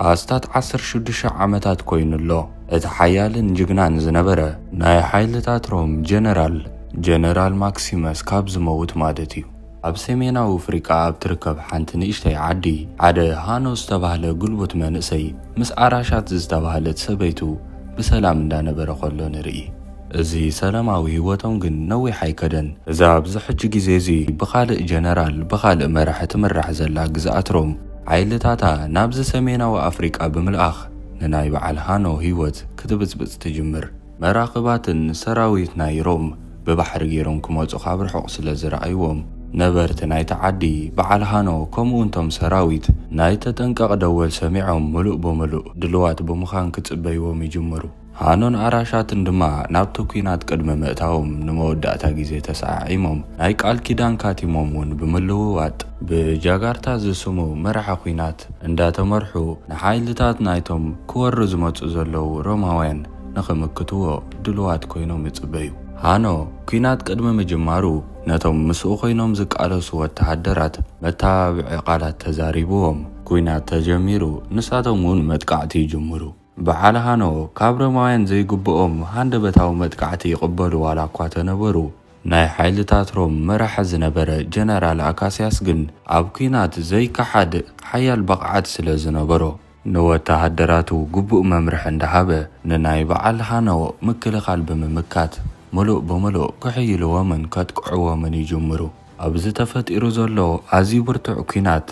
ኣስታት ዓሰርተ ሽዱሽተ ዓመታት ኮይኑ ኣሎ። እቲ ሓያልን ጅግናን ዝነበረ ናይ ሓይልታት ሮም ጀነራል፣ ጀነራል ማክሲመስ ካብ ዝመውት ማለት እዩ፣ ኣብ ሰሜናዊ ፍሪቃ ኣብ ትርከብ ሓንቲ ንእሽተይ ዓዲ፣ ሓደ ሃኖ ዝተባህለ ግልቡት መንእሰይ ምስ ኣራሻት ዝተባህለት ሰበይቱ ብሰላም እንዳነበረ ከሎ ንርኢ። እዚ ሰላማዊ ህይወቶም ግን ነዊሕ ኣይከደን። እዛ ኣብዚ ሕጂ ግዜ እዚ ብኻልእ ጀነራል ብኻልእ መራሒ ትምራሕ ዘላ ግዝኣት ሮም፣ ሓይልታታ ናብዚ ሰሜናዊ ኣፍሪቃ ብምልኣኽ ንናይ በዓል ሃኖ ህይወት ክትብጽብጽ ትጅምር። መራኽባትን ሰራዊት ናይ ሮም ብባሕሪ ገይሮም ክመጹ ካብ ርሑቕ ስለ ዝረኣይዎም፣ ነበርቲ ናይቲ ዓዲ በዓል ሃኖ ከምኡውን እቶም ሰራዊት ናይ ተጠንቀቕ ደወል ሰሚዖም ምሉእ ብምሉእ ድሉዋት ብምዃን ክጽበይዎም ይጅምሩ። ሃኖን ኣራሻትን ድማ ናብቲ ኲናት ቅድሚ ምእታዎም ንመወዳእታ ግዜ ተሰዓዒሞም፣ ናይ ቃል ኪዳን ካቲሞም ውን ብምልውዋጥ፣ ብጃጋርታ ዝስሙ መራሒ ኲናት እንዳተመርሑ ንሓይልታት ናይቶም ክወሩ ዝመጹ ዘለዉ ሮማውያን ንኽምክትዎ ድሉዋት ኮይኖም ይጽበዩ። ሃኖ፣ ኲናት ቅድሚ ምጅማሩ ነቶም ምስኡ ኮይኖም ዝቃለሱ ወተሃደራት መተባብዒ ቃላት ተዛሪብዎም፣ ኲናት ተጀሚሩ ንሳቶም ውን መጥቃዕቲ ይጅምሩ። በዓል ሃኖ ካብ ሮማውያን ዘይግብኦም ሃንደበታዊ መጥቃዕቲ ይቕበሉ ዋላ እኳ ተነበሩ፣ ናይ ሓይልታት ሮም መራሒ ዝነበረ ጀነራል ኣካስያስ ግን ኣብ ኲናት ዘይከሓድ ሓያል ብቕዓት ስለ ዝነበሮ፣ ንወተሃደራቱ ግቡእ መምርሒ እንዳሃበ ንናይ በዓል ሃኖ ምክልኻል ብምምካት ምሉእ ብምሉእ ክሕይልዎምን ከጥቅዕዎምን ይጅምሩ። ኣብዚ ተፈጢሩ ዘሎ ኣዝዩ ብርቱዕ ኲናት፣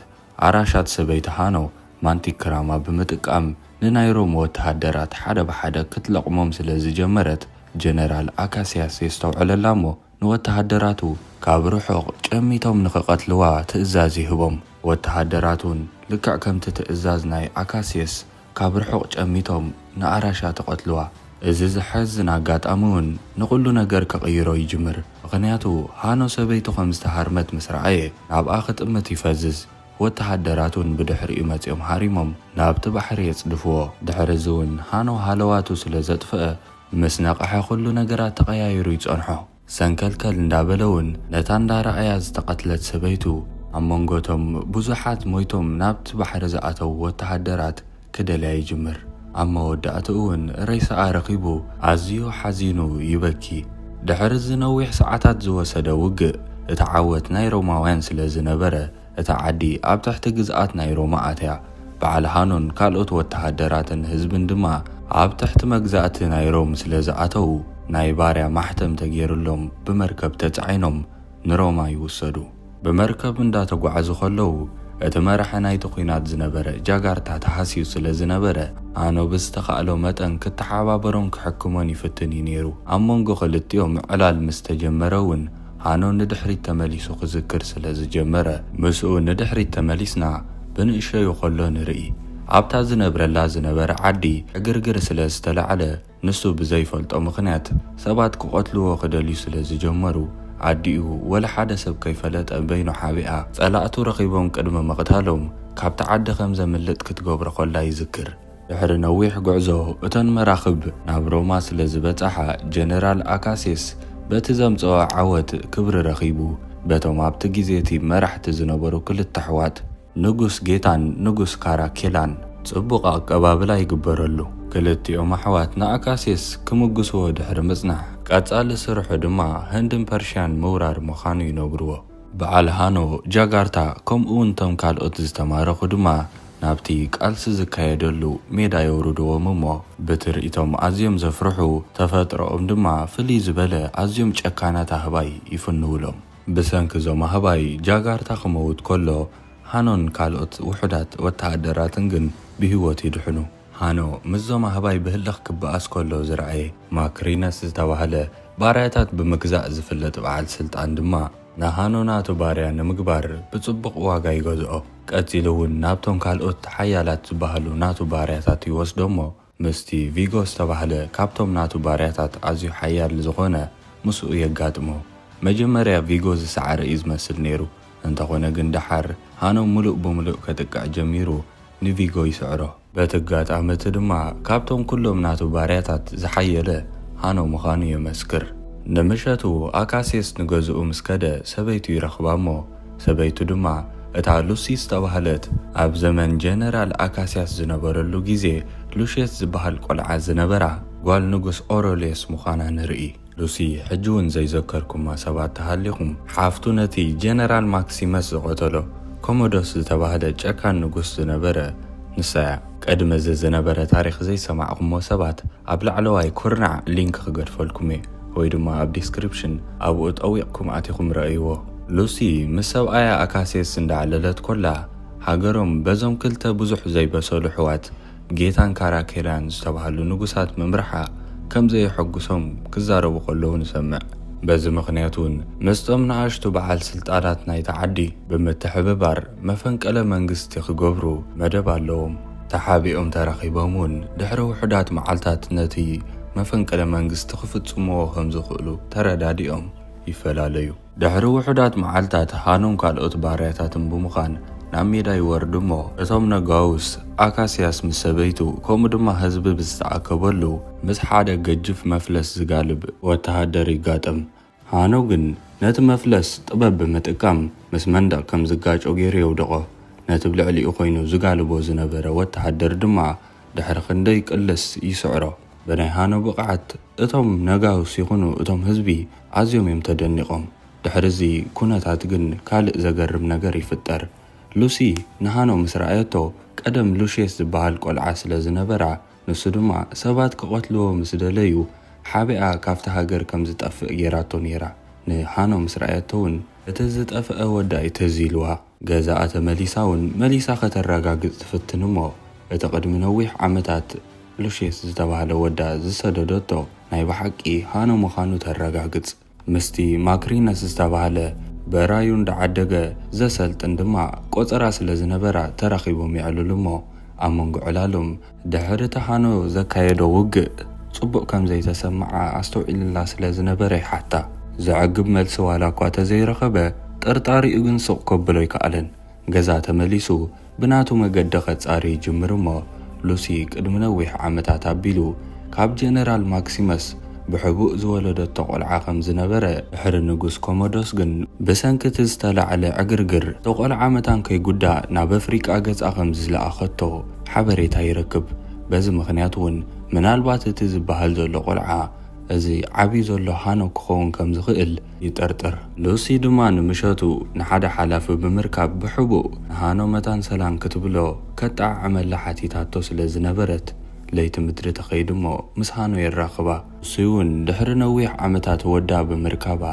ኣራሻት ሰበይቲ ሃኖ ማንቲ ክራማ ብምጥቃም ንናይ ሮም ወተሃደራት ሓደ ብሓደ ክትለቕሞም ስለ ዝጀመረት፣ ጀነራል ኣካስያስ የስተውዕለላ እሞ ንወተሃደራቱ ካብ ርሑቕ ጨሚቶም ንኽቐትልዋ ትእዛዝ ይህቦም። ወተሃደራትውን ልክዕ ከምቲ ትእዛዝ ናይ ኣካስየስ ካብ ርሑቕ ጨሚቶም ንኣራሻ ተቐትልዋ። እዚ ዘሐዝን ኣጋጣሚውን ንኹሉ ነገር ክቕይሮ ይጅምር፣ ምኽንያቱ ሃኖ ሰበይቱ ከም ዝተሃርመት ምስ ረኣየ ናብኣ ክጥምት ይፈዝዝ። ወተሃደራት እውን ብድሕሪኡ መጺኦም ሃሪሞም ናብቲ ባሕሪ የጽድፍዎ። ድሕሪ እዚ እውን ሃኖ ሃለዋቱ ስለ ዘጥፍኣ ምስ ነቐሐ ኩሉ ነገራት ተቐያይሩ ይጸንሖ። ሰንከልከል እንዳበለ እውን ነታ እንዳ ራኣያ ዝተቐትለት ሰበይቱ ኣብ መንጎ እቶም ብዙሓት ሞይቶም ናብቲ ባሕሪ ዝኣተዉ ወተሃደራት ክደልያ ይጅምር። ኣብ መወዳእትኡ እውን ሬሳኣ ረኺቡ ኣዝዩ ሓዚኑ ይበኪ። ድሕሪ እዚ ነዊሕ ሰዓታት ዝወሰደ ውግእ፣ እቲ ዓወት ናይ ሮማውያን ስለ ዝነበረ፣ እታ ዓዲ ኣብ ትሕቲ ግዝኣት ናይ ሮማ ኣትያ። በዓል ሃኖን ካልኦት ወተሃደራትን ህዝብን ድማ ኣብ ትሕቲ መግዛእቲ ናይ ሮም ስለ ዝኣተዉ፣ ናይ ባርያ ማሕተም ተገይርሎም ብመርከብ ተጻዒኖም ንሮማ ይውሰዱ። ብመርከብ እንዳተጓዓዙ ከለዉ እቲ መራሒ ናይቲ ኵናት ዝነበረ ጃጋርታ ተሃስዩ ስለ ዝነበረ፣ ኣኖ ብዝተኻእሎ መጠን ክተሓባበሮን ክሕክሞን ይፍትን እዩ ነይሩ። ኣብ መንጎ ክልቲኦም ምዕላል ምስ ተጀመረ እውን ኣኖ ንድሕሪት ተመሊሱ ክዝክር ስለ ዝጀመረ፣ ምስኡ ንድሕሪት ተመሊስና ብንእሸዩ ከሎ ንርኢ፣ ኣብታ ዝነብረላ ዝነበረ ዓዲ ዕግርግር ስለ ዝተላዕለ፣ ንሱ ብዘይፈልጦ ምኽንያት ሰባት ክቐትልዎ ክደልዩ ስለ ዝጀመሩ፣ ኣዲኡ ወላ ሓደ ሰብ ከይፈለጠ በይኑ ሓቢኣ፣ ጸላእቱ ረኺቦም ቅድሚ ምቕታሎም፣ ካብቲ ዓዲ ከም ዘምልጥ ክትገብሮ ከላ ይዝክር። ድሕሪ ነዊሕ ጕዕዞ፣ እተን መራኽብ ናብ ሮማ ስለ ዝበጽሓ፣ ጀነራል ኣካሲስ በቲ ዘምጽኦ ዓወት ክብሪ ረኺቡ፣ በቶም ኣብቲ ግዜ እቲ መራሕቲ ዝነበሩ ክልተ ኣሕዋት፣ ንጉስ ጌታን ንጉስ ካራኬላን ጽቡቕ ኣቀባብላ ይግበረሉ። ክልቲኦም ኣሕዋት ንኣካሲየስ ክምጉስዎ ድሕሪ ምጽናሕ፣ ቀጻሊ ስርሑ ድማ ህንድን ፐርሽያን ምውራር ምዃኑ ይነግሩዎ። በዓል ሃኖ፣ ጃጋርታ ከምኡ'ውን እቶም ካልኦት ዝተማረኹ ድማ ናብቲ ቃልሲ ዝካየደሉ ሜዳ የውርዱዎም እሞ ብትርኢቶም ኣዝዮም ዘፍርሑ፣ ተፈጥሮኦም ድማ ፍልይ ዝበለ ኣዝዮም ጨካናት ኣህባይ ይፍንዉሎም። ብሰንኪ እዞም ኣህባይ፣ ጃጋርታ ክመውት ከሎ፣ ሃኖን ካልኦት ውሑዳት ወተሃደራትን ግን ብህይወት ይድሕኑ። ሃኖ ምስዞም ኣህባይ ብህልኽ ክበኣስ ከሎ ዝረኣየ ማክሪነስ ዝተባህለ፣ ባርያታት ብምግዛእ ዝፍለጥ በዓል ስልጣን ድማ፣ ንሃኖ ናቱ ባርያ ንምግባር ብጽቡቕ ዋጋ ይገዝኦ። ቀጺሉ'ውን ናብቶም ካልኦት ሓያላት ዝበሃሉ ናቱ ባርያታት ይወስዶ'ሞ፣ ምስቲ ቪጎ ዝተባህለ ካብቶም ናቱ ባርያታት ኣዝዩ ሓያል ዝኾነ ምስኡ የጋጥሞ። መጀመርያ ቪጎ ዝሰዓረ እዩ ዝመስል ነይሩ፣ እንተኾነ ግን ደሓር ሃኖ ምሉእ ብምሉእ ከጥቅዕ ጀሚሩ ንቪጎ ይስዕሮ። በቲ ኣጋጣሚ እቲ ድማ ካብቶም ኩሎም ናቱ ባርያታት ዝሓየለ ሃኖ ምዃኑ የመስክር። ንምሸቱ ኣካስየስ ንገዝኡ ምስ ከደ ሰበይቱ ይረኽባ እሞ ሰበይቱ ድማ እታ ሉሲ ዝተባህለት ኣብ ዘመን ጀነራል ኣካስያስ ዝነበረሉ ግዜ ሉሽየስ ዝበሃል ቆልዓ ዝነበራ ጓል ንጉስ ኦሮልዮስ ምዃና ንርኢ። ሉሲ ሕጂ ውን ዘይዘከርኩማ ሰባት ተሃሊኹም ሓፍቱ ነቲ ጀነራል ማክሲመስ ዝቐተሎ ኮሞዶስ ዝተባህለ ጨካን ንጉስ ዝነበረ ንሳ እያ። ቀድሚ እዚ ዝነበረ ታሪኽ ዘይሰማዕኩሞ ሰባት ኣብ ላዕለዋይ ኩርናዕ ሊንክ ክገድፈልኩም እየ ወይ ድማ ኣብ ዲስክሪፕሽን ኣብኡ ጠዊቕኩም ኣቲኹም ረኣይዎ። ሉሲ ምስ ሰብኣያ ኣካሴስ እንዳዕለለት ኮላ ሃገሮም በዞም ክልተ ብዙሕ ዘይበሰሉ ኣሕዋት ጌታን ካራኬርያን ዝተባህሉ ንጉሳት ምምራሓ ከም ዘየሐጉሶም ክዛረቡ ከለዉ ንሰምዕ። በዚ ምኽንያት እውን ምስቶም ንኣሽቱ በዓል ስልጣናት ናይታ ዓዲ ብምትሕብባር መፈንቀለ መንግስቲ ክገብሩ መደብ ኣለዎም። ተሓቢኦም ተራኺቦም እውን ድሕሪ ውሑዳት መዓልታት ነቲ መፈንቅለ መንግስቲ ክፍጽምዎ ከም ዝኽእሉ ተረዳዲኦም ይፈላለዩ። ድሕሪ ውሑዳት መዓልታት ሃኖን ካልኦት ባርያታትን ብምዃን ናብ ሜዳ ይወርዱ እሞ እቶም ነጋውስ ኣካስያስ ምስ ሰበይቱ ከምኡ ድማ ህዝቢ ብዝተኣከበሉ ምስ ሓደ ገጅፍ መፍለስ ዝጋልብ ወተሃደር ይጋጠም። ሃኖ ግን ነቲ መፍለስ ጥበብ ብምጥቃም ምስ መንደቕ ከም ዝጋጮ ገይሩ የውድቖ። ነቲ ብ ልዕሊኡ ኮይኑ ዝጋልቦ ዝነበረ ወተሃደር ድማ ድሕሪ ክንደይ ቅልስ ይስዕሮ። ብናይ ሃኖ ብቕዓት እቶም ነጋውስ ይኹኑ እቶም ህዝቢ ኣዝዮም እዮም ተደኒቖም። ድሕሪ እዚ ኩነታት ግን ካልእ ዘገርም ነገር ይፍጠር። ሉሲ ንሃኖ ምስ ረኣየቶ ቀደም ሉሽየስ ዝበሃል ቆልዓ ስለ ዝነበራ፣ ንሱ ድማ ሰባት ክቐትልዎ ምስ ደለዩ ሓቢኣ ካብታ ሃገር ከም ዝጠፍእ ጌራቶ ኔራ። ንሃኖ ምስ ረኣየቶ ውን እቲ ዝጠፍኣ ወዳ'ዩ ትዝ ኢልዋ። ገዛኣ ተመሊሳ ውን መሊሳ ከተረጋግጽ ትፍትን እሞ እቲ ቅድሚ ነዊሕ ዓመታት ሉሽየስ ዝተባህለ ወዳ ዝሰደደቶ ናይ ብሓቂ ሃኖ ምዃኑ ተረጋግጽ። ምስቲ ማክሪነስ ዝተባህለ በራዩ እንዳዓደገ ዘሰልጥን ድማ ቆጸራ ስለ ዝነበራ ተራኺቦም የዕልሉ እሞ ኣብ መንጎ ዕላሎም ድሕሪ እቲ ሃኖ ዘካየዶ ውግእ ጽቡቕ ከም ዘይተሰምዓ ኣስተውዒልላ ስለ ዝነበረ ይሓታ። ዘዕግብ መልሲ ዋላኳ ተዘይረኸበ ጥርጣሪኡ ግን ስቕ ከብሎ ኣይከኣለን። ገዛ ተመሊሱ ብናቱ መገዲ ከጻሪ ይጅምር እሞ ሉሲ ቅድሚ ነዊሕ ዓመታት ኣቢሉ ካብ ጀነራል ማክሲመስ ብሕቡእ ዝወለደቶ ቆልዓ ከም ዝነበረ፣ ድሕሪ ንጉስ ኮሞዶስ ግን ብሰንኪ እቲ ዝተላዕለ ዕግርግር እቲ ቆልዓ መታን ከይጉዳእ ናብ ኣፍሪቃ ገጻ ከም ዝለኣኸቶ ሓበሬታ ይረክብ። በዚ ምኽንያት እውን ምናልባት እቲ ዝበሃል ዘሎ ቆልዓ እዚ ዓብዩ ዘሎ ሃኖክ ክኸውን ከም ዝኽእል ይጠርጥር። ሉሲ ድማ ንምሸቱ ንሓደ ሓላፊ ብምርካብ ብሕቡእ ንሃኖ መታን ሰላም ክትብሎ ከጠዓዕመላ ሓቲታቶ ስለ ዝነበረት፣ ለይቲ ምድሪ ተኸይዱ'ሞ ምስ ሃኖ የራኽባ። ሉሲ'ውን ድሕሪ ነዊሕ ዓመታት ወዳ ብምርካባ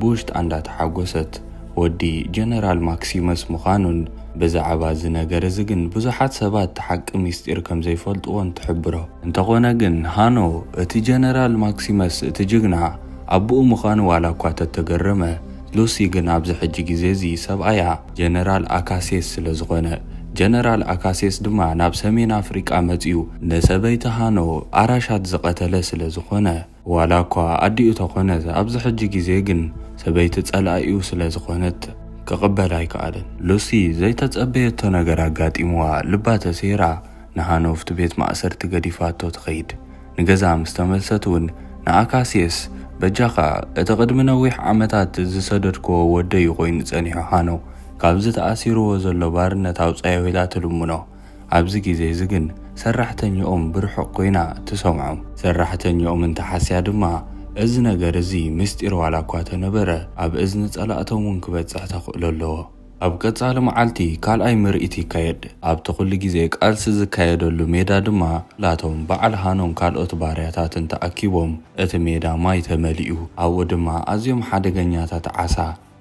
ብውሽጣ እንዳተሓጎሰት፣ ወዲ ጀነራል ማክሲመስ ምዃኑን ብዛዕባ'ዚ ነገር'ዚ ግን ብዙሓት ሰባት እቲ ሓቂ ምስጢር ከም ዘይፈልጥዎን ትሕብሮ። እንተኾነ ግን ሃኖ እቲ ጀነራል ማክሲመስ እቲ ጅግና፣ ኣቡኡ ምዃኑ ዋላ እኳ ተተገረመ፣ ሉሲ ግን ኣብዚ ሕጂ ግዜ እዚ ሰብኣያ ጀነራል ኣካሴስ ስለ ዝኾነ፣ ጀነራል ኣካሴስ ድማ ናብ ሰሜን ኣፍሪቃ መጺኡ ንሰበይቲ ሃኖ ኣራሻት ዝቐተለ ስለ ዝኾነ፣ ዋላ እኳ ኣዲኡ ተኾነት፣ ኣብዚ ሕጂ ግዜ ግን ሰበይቲ ጸላኢኡ ስለ ዝኾነት ክቕበል ኣይከኣለን። ሉሲ ዘይተጸበየቶ ነገር ኣጋጢምዋ፣ ልባ ተሰይራ ንሃኖ እብቲ ቤት ማእሰርቲ ገዲፋቶ ትኸይድ። ንገዛ ምስ ተመልሰት እውን ንኣካስየስ፣ በጃኻ፣ እቲ ቕድሚ ነዊሕ ዓመታት ዝሰደድክዎ ወደይ'ዩ ዀይኑ ጸኒሑ፣ ሃኖ፣ ካብዚ ተኣሲርዎ ዘሎ ባርነት ኣውጽኣዮ ኢላ ትልምኖ። ኣብዚ ግዜ እዚ ግን ሰራሕተኛኦም ብርሑቕ ኰይና ትሰምዖም። ሰራሕተኛኦም እንተ ሓስያ ድማ፣ እዚ ነገር እዚ ምስጢር ዋላ እኳ ተነበረ፣ ኣብ እዝኒ ጸላእቶም እውን ክበጽሕ ተኽእሎ ኣለዎ። ኣብ ቀጻሊ መዓልቲ ካልኣይ ምርኢት ይካየድ። ኣብቲ ኩሉ ግዜ ቃልሲ ዝካየደሉ ሜዳ ድማ ላቶም በዓል ሃኖን ካልኦት ባርያታትን ተኣኪቦም እቲ ሜዳ ማይ ተመሊኡ። ኣብኡ ድማ ኣዝዮም ሓደገኛታት ዓሳ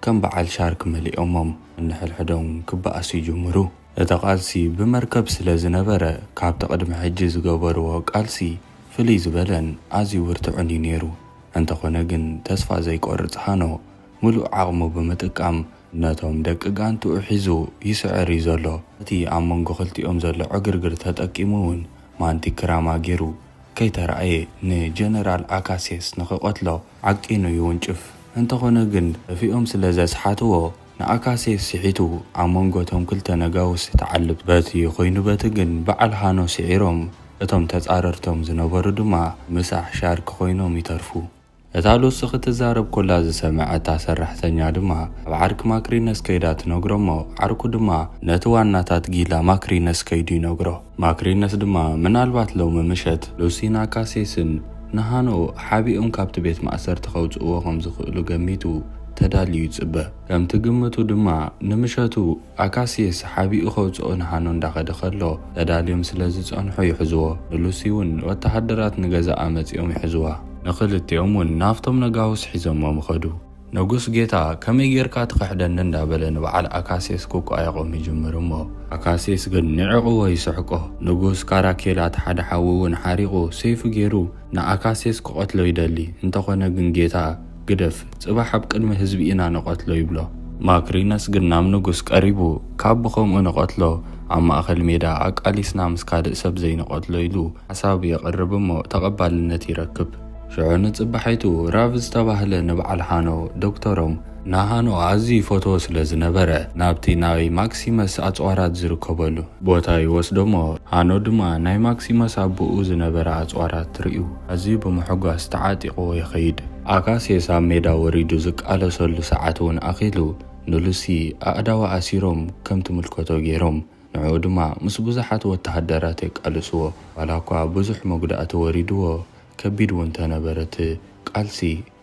ከም በዓል ሻርክ መሊኦሞም ንንሕድሕዶም ክበኣሱ ይጅምሩ። እቲ ቃልሲ ብመርከብ ስለ ዝነበረ ካብቲ ቅድሚ ሕጂ ዝገበርዎ ቃልሲ ፍልይ ዝበለን ኣዝዩ ብርቱዕን እዩ ነይሩ። እንተኾነ ግን ተስፋ ዘይቆርጽ ሃኖ ምሉእ ዓቕሙ ብምጥቃም ነቶም ደቂ ጋንትኡ ሒዙ ይስዕር እዩ ዘሎ። እቲ ኣብ መንጎ ክልቲኦም ዘሎ ዕግርግር ተጠቂሙ እውን ማንቲ ክራማ ገይሩ ከይተራእየ ንጀነራል ኣካሴስ ንክቐትሎ ዓቂኑ ይውንጭፍ። እንተኾነ ግን እፊኦም ስለ ዘስሓትዎ ንኣካሴስ ስሒቱ ኣብ መንጎ እቶም ክልተ ነጋውስ ተዓልብ። በቲ ኮይኑ በቲ ግን በዓል ሃኖ ስዒሮም እቶም ተጻረርቶም ዝነበሩ ድማ ምሳሕ ሻርክ ኮይኖም ይተርፉ። እታ ሉሲ ክትዛረብ ኮላ ዝሰመዐት እታ ሰራሕተኛ ድማ ናብ ዓርኪ ማክሪነስ ከይዳ ትነግሮ እሞ ዓርኩ ድማ ነቲ ዋናታት ጊላ ማክሪነስ ከይዱ ይነግሮ። ማክሪነስ ድማ ምናልባት ሎሚ ምሸት ሉሲን ኣካሴስን ንሃኖ ሓቢኦም ካብቲ ቤት ማእሰርቲ ከውጽእዎ ከም ዝኽእሉ ገሚቱ ተዳልዩ ይጽበ። ከምቲ ግምቱ ድማ ንምሸቱ ኣካሲየስ ሓቢኡ ከውጽኦ ንሃኖ እንዳኸደ ከሎ ተዳልዮም ስለ ዝጸንሑ ይሕዝዎ። ንሉሲ ውን ወተሃደራት ንገዛኣ መጺኦም ይሕዝዋ። ንኽልቲኦም ውን ናብቶም ነጋውስ ሒዞሞም ኸዱ። ነጉስ ጌታ ከመይ ጌርካ ትኽሕደኒ እንዳበለ ንበዓል ኣካሲየስ ክቋየቖም ይጅምር እሞ ኣካሲየስ ግን ንዒቕዎ ይስሕቆ። ንጉስ ካራኬላት ሓደ ሓዊ ውን ሓሪቑ ሰይፉ ጌሩ ንኣካሲየስ ክቐትሎ ይደሊ እንተኾነ ግን ጌታ ግደፍ ጽባሕ ኣብ ቅድሚ ህዝቢ ኢና ንቐትሎ ይብሎ። ማክሪነስ ግን ናብ ንጉስ ቀሪቡ ካብ ብኸምኡ ንቐትሎ ኣብ ማእከል ሜዳ ኣቃሊስና ምስ ካልእ ሰብ ዘይንቐትሎ ኢሉ ሓሳብ የቕርብ እሞ ተቐባልነት ይረክብ። ሽዑ ንጽባሒቱ ራቭ ዝተባህለ ንብዓል ሃኖ ዶክተሮም፣ ንሃኖ ኣዝዩ ይፈትዎ ስለ ዝነበረ ናብቲ ናይ ማክሲመስ ኣጽዋራት ዝርከበሉ ቦታ ይወስዶ እሞ ሃኖ ድማ ናይ ማክሲመስ ኣቡኡ ዝነበረ ኣጽዋራት ርእዩ። ኣዝዩ ብምሕጓስ ተዓጢቕዎ ይኸይድ። ኣካሴስ ኣብ ሜዳ ወሪዱ ዝቃለሰሉ ሰዓት እውን ኣኺሉ፣ ንሉሲ ኣእዳዋ ኣሲሮም ከም ትምልከቶ ገይሮም፣ ንዕኡ ድማ ምስ ብዙሓት ወተሃደራት የቃልስዎ። ዋላኳ ብዙሕ መጉዳእቲ ወሪድዎ፣ ከቢድ እውን ተነበረ እቲ ቃልሲ፣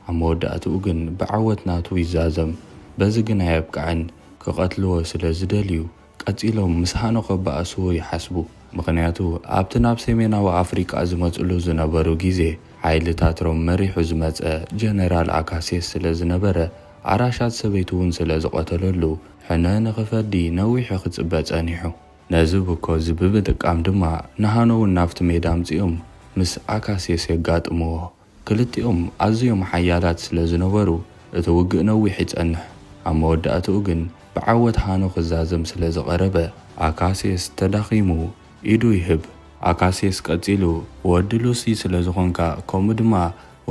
ኣብ መወዳእትኡ ግን ብዓወት ናቱ ይዛዘም። በዚ ግን ኣየብቅዐን፣ ክቐትልዎ ስለ ዝደልዩ ቀጺሎም ምስ ሃኖ ከበኣሱ ይሓስቡ፣ ምኽንያቱ ኣብቲ ናብ ሰሜናዊ ኣፍሪቃ ዝመጽሉ ዝነበሩ ግዜ ሓይልታት ሮም መሪሑ ዝመጸ ጀነራል ኣካሲየስ ስለ ዝነበረ፣ ኣራሻት ሰበይቱ'ውን ስለ ዝቐተለሉ ሕነ ንኽፈዲ ነዊሑ ክጽበ ጸኒሑ። ነዚ ብኮዚ ብምጥቃም ድማ ንሃኖ'ውን ናብቲ ሜዳ ኣምጺኦም ምስ ኣካሲየስ የጋጥምዎ። ክልቲኦም ኣዝዮም ሓያላት ስለ ዝነበሩ፣ እቲ ውግእ ነዊሕ ይጸንሕ። ኣብ መወዳእታኡ ግን ብዓወት ሃኖ ክዛዘም ስለ ዝቐረበ፣ ኣካስየስ ተዳኺሙ ኢዱ ይህብ። ኣካስየስ ቀጺሉ፣ ወዲ ሉሲ ስለ ዝኾንካ፣ ከምኡ ድማ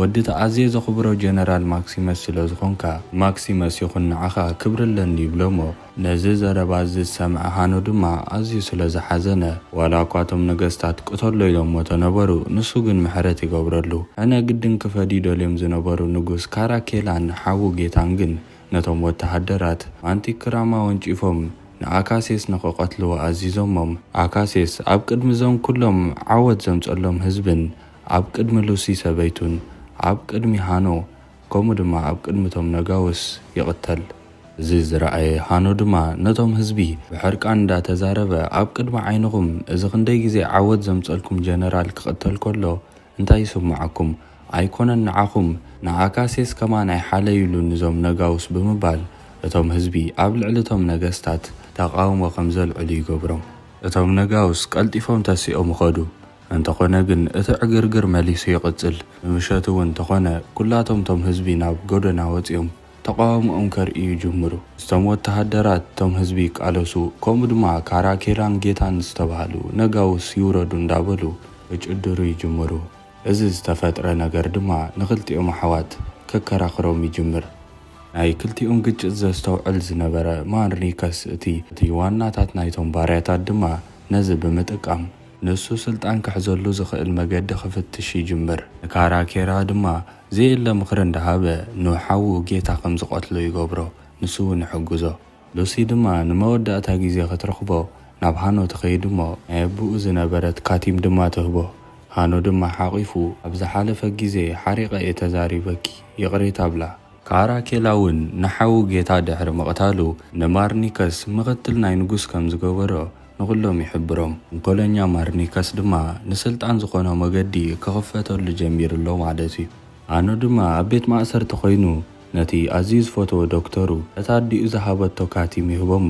ወዲ'ቲ ኣዝየ ዘኽብሮ ጀነራል ማክሲመስ ስለ ዝኾንካ፣ ማክሲመስ ይኹን ንዓኻ ክብሪ ኣለኒ ይብሎ'ሞ፣ ነዚ ዘረባ እዚ ዝሰምዐ ሃኖ ድማ ኣዝዩ ስለ ዝሓዘነ፣ ዋላ እኳ እቶም ነገስታት ቅተሎ ኢሎምዎ ተነበሩ፣ ንሱ ግን ምሕረት ይገብረሉ። ሕነ ግድን ክፈድዩ ደልዮም ዝነበሩ ንጉስ ካራኬላን ሓዉ ጌታን ግን ነቶም ወተሃደራት ማንቲክራም ኣወንጪፎም ንኣካሴስ ንኽቐትልዎ ኣዚዞሞም። ኣካሴስ ኣብ ቅድሚ እዞም ኩሎም ዓወት ዘምጸሎም ህዝብን ኣብ ቅድሚ ሉሲ ሰበይቱን ኣብ ቅድሚ ሃኖ፣ ከምኡ ድማ ኣብ ቅድሚ እቶም ነጋውስ ይቕተል። እዚ ዝረኣየ ሃኖ ድማ ነቶም ህዝቢ ብሕርቃን እንዳ ተዛረበ ኣብ ቅድሚ ዓይንኹም እዚ ክንደይ ግዜ ዓወት ዘምጸልኩም ጀነራል ክቕተል ከሎ እንታይ ይስምዓኩም ኣይኮነን ንዓኹም ንኣካሴስ ከማን ኣይሓለዩሉን እዞም ነጋውስ ብምባል እቶም ህዝቢ ኣብ ልዕሊ እቶም ነገስታት ተቓውሞ ከም ዘልዕሉ ይገብሮም። እቶም ነጋውስ ቀልጢፎም ተሲኦም ኸዱ። እንተኾነ ግን እቲ ዕግርግር መሊሱ ይቕጽል። ምሸት እውን ተኾነ ኩላቶም እቶም ህዝቢ ናብ ጎደና ወጺኦም ተቓውምኦም ከርእዩ ይጅምሩ። እቶም ወተሃደራት እቶም ህዝቢ ይቃለሱ ከምኡ ድማ ካራኬላን ጌታን ዝተባህሉ ነጋውስ ይውረዱ እንዳበሉ ክጭድሩ ይጅምሩ። እዚ ዝተፈጥረ ነገር ድማ ንክልቲኦም ኣሕዋት ከከራኽሮም ይጅምር። ናይ ክልቲኦም ግጭት ዘስተውዕል ዝነበረ ማንሪከስ እቲ ዋናታት ናይቶም ባርያታት ድማ ነዚ ብምጥቃም። ንሱ ስልጣን ክሕዘሉ ዝኽእል መገዲ ክፍትሽ ይጅምር። ንካራኬራ ድማ ዘየለ ምኽሪ እንዳሃበ ንሓዉ ጌታ ከም ዝቐትሎ ይገብሮ፣ ንሱ ውን ይሕግዞ። ሉሲ ድማ ንመወዳእታ ግዜ ክትረኽቦ ናብ ሃኖ ትኸይድ እሞ ናይ ኣቡኡ ዝነበረት ካቲም ድማ ትህቦ። ሃኖ ድማ ሓቚፉ ኣብ ዝሓለፈ ግዜ ሓሪቐ እየ ተዛሪበኪ ይቕሬታ እብላ። ካራኬላ ውን ንሓዉ ጌታ ድሕሪ ምቕታሉ ንማርኒከስ ምኽትል ናይ ንጉስ ከም ዝገበሮ ንኹሎም ይሕብሮም። ንኮሎኛ ማርኒከስ ድማ ንስልጣን ዝኾኖ መገዲ ክኽፈተሉ ጀሚሩ ኣሎ ማለት እዩ። ኣኑ ድማ ኣብ ቤት ማእሰርቲ ኮይኑ ነቲ ኣዝዩ ዝፈትዎ ዶክተሩ ነታ ኣዲኡ ዝሃበቶ ካቲም ይህቦ'ሞ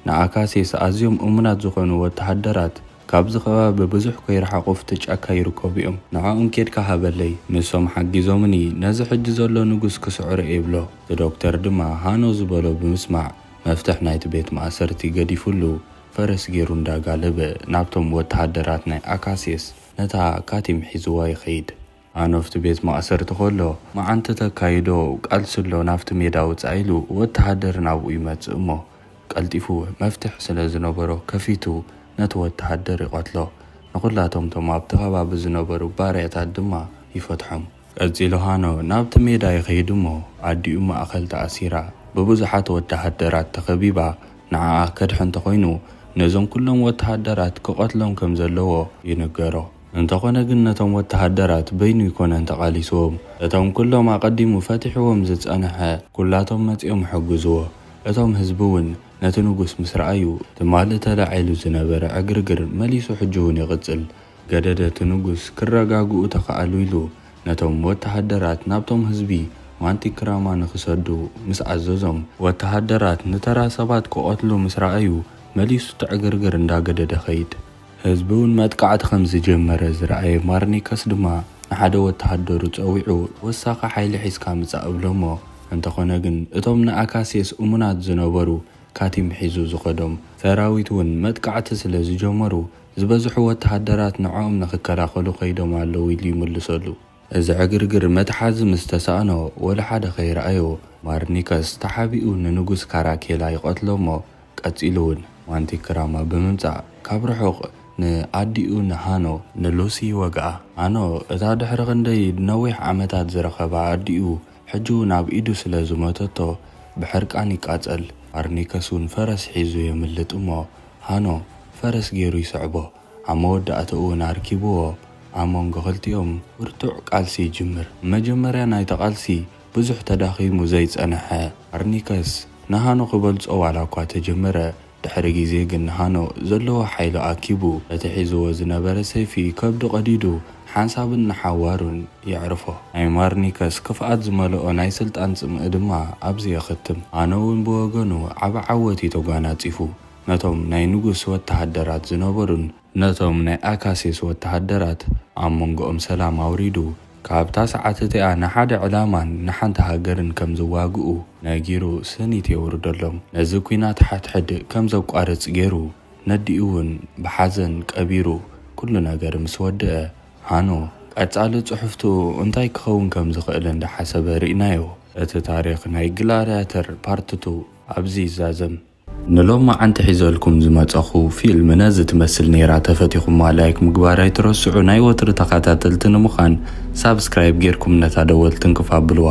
ንኣካሴስ ኣዝዮም እሙናት ዝኾኑ ወተሃደራት ካብዚ ከባቢ ብዙሕ ከይረሓቑ ኣብቲ ጫካ ይርከቡ እዮም ንዖኦም ኬድካ ሃበለይ ንሶም ሓጊዞምኒ ነዚ ሕጂ ዘሎ ንጉስ ክስዕሮ'የ ይብሎ። እቲ ዶክተር ድማ ሃኖ ዝበሎ ብምስማዕ መፍትሕ ናይቲ ቤት ማእሰርቲ ገዲፉሉ ፈረስ ጌሩ እንዳ ጋለበ ናብቶም ወተሃደራት ናይ ኣካሲስ ነታ ካቲም ሒዝዋ ይኸይድ። ኣኖፍቲ ቤት ማእሰርቲ ከሎ መዓንቲ ተካይዶ ቃልሲ ኣሎ ናብቲ ሜዳ ውጻእ ኢሉ ወተሃደር ናብኡ ይመጽእ እሞ ቀልጢፉ መፍትሕ ስለ ዝነበሮ ከፊቱ ነቲ ወተሃደር ይቐትሎ ንኹላቶም እቶም ኣብቲ ከባቢ ዝነበሩ ባርያታት ድማ ይፈትሖም። ቀጺሉ ሃኖ ናብቲ ሜዳ ይኸይድ እሞ ኣዲኡ ማእከል ተኣሲራ ብብዙሓት ወተሃደራት ተኸቢባ ንዓኣ ከድሕን እንተኾይኑ ነዞም ኩሎም ወተሃደራት ክቐትሎም ከም ዘለዎ ይንገሮ። እንተኾነ ግን ነቶም ወተሃደራት በይኑ ኣይኮነን ተቓሊስዎም እቶም ኩሎም ኣቐዲሙ ፈቲሕዎም ዝጸንሐ ኩላቶም መጺኦም ሕግዝዎ። እቶም ህዝቢ ውን ነቲ ንጉስ ምስ ረኣዩ ትማሊ ተላዒሉ ዝነበረ ዕግርግር መሊሱ ሕጂ ውን ይቕጽል። ገደደ እቲ ንጉስ ክረጋግኡ ተኻእሉ ኢሉ ነቶም ወተሃደራት ናብቶም ህዝቢ ማንቲክራማ ንኽሰዱ ምስ ኣዘዞም፣ ወተሃደራት ንተራ ሰባት ክቐትሉ ምስ ረኣዩ መሊሱ እቲ ዕግርግር እንዳ ገደደ ኸይድ። ህዝቢ እውን መጥቃዕቲ ከም ዝጀመረ ዝረኣየ ማርኒከስ ድማ ንሓደ ወተሃደሩ ጸዊዑ ወሳኺ ሓይሊ ሒዝካ ምጻእ እብሎሞ፣ እንተኾነ ግን እቶም ንኣካስየስ እሙናት ዝነበሩ ካቲም ሒዙ ዝኸዶም ሰራዊት እውን መጥቃዕቲ ስለ ዝጀመሩ፣ ዝበዝሑ ወተሃደራት ንዕኦም ንኽከላኸሉ ከይዶም ኣለዉ ኢሉ ይምልሰሉ። እዚ ዕግርግር መትሓዚ ምስ ተሳእኖ ወላ ሓደ ከይረኣዮ ማርኒከስ ተሓቢኡ ንንጉስ ካራኬላ ይቐትሎ እሞ ቀጺሉ እውን ማንቲክራማ ብምምጻእ ካብ ርሑቕ ንኣዲኡ ንሃኖ፣ ንሉሲ፣ ይወግኣ። ሃኖ እታ ድሕሪ ክንደይ ነዊሕ ዓመታት ዝረኸባ ኣዲኡ ሕጂ እውን ኣብ ኢዱ ስለ ዝሞተቶ ብሕርቃን ይቃጸል። ማርኒከስ እውን ፈረስ ሒዙ የምልጥ እሞ ሃኖ ፈረስ ገይሩ ይስዕቦ ኣብ መወዳእትኡ እውን ኣርኪብዎ ኣብ መንጎ ክልቲኦም ብርቱዕ ቃልሲ ይጅምር መጀመርያ ናይቲ ቃልሲ ብዙሕ ተዳኺሙ ዘይጸነሐ ኣርኒከስ ንሃኖ ክበልጾ ዋላ እኳ ተጀመረ ድሕሪ ግዜ ግን ንሃኖ ዘለዎ ሓይሊ ኣኪቡ ነቲ ሒዝዎ ዝነበረ ሰይፊ ከብዱ ቀዲዱ ሓንሳብን ንሓዋሩን የዕርፎ። ናይ ማርኒከስ ክፍኣት ዝመልኦ ናይ ስልጣን ጽምኢ ድማ ኣብዚ የኽትም። ኣነውን ብወገኑ ዓቢ ዓወት እዩ ተጓናጺፉ። ነቶም ናይ ንጉስ ወተሃደራት ዝነበሩን። ነቶም ናይ ኣካሲስ ወተሃደራት ኣብ መንጎኦም ሰላም ኣውሪዱ፣ ካብታ ሰዓት እቲኣ ንሓደ ዕላማን ንሓንቲ ሃገርን ከም ዝዋግኡ ነጊሩ ስኒት የውርደሎም። ነዚ ኲናት ሓድሕድ ከም ዘቋርጽ ገይሩ ነዲኡውን ብሓዘን ቀቢሩ። ኩሉ ነገር ምስ ወድኣ። ሃኖ፣ ቀጻሊ ጽሑፍቱ እንታይ ክኸውን ከም ዝኽእል እንዳ ሓሰበ ርኢናዮ። እቲ ታሪኽ ናይ ግላድያተር ፓርት ቱ ኣብዚ ይዛዘም። ንሎማዓንቲ ሒዘልኩም ዝመጸኹ ፊልም ነዚ ትመስል ኔራ ተፈቲኹማ ላይክ ምግባር ኣይትረስዑ ናይ ወትሪ ተኻታተልቲ ንምኻን ሳብስክራይብ ጌርኩም ነታ ደወል ትንክፍ ኣብልዋ።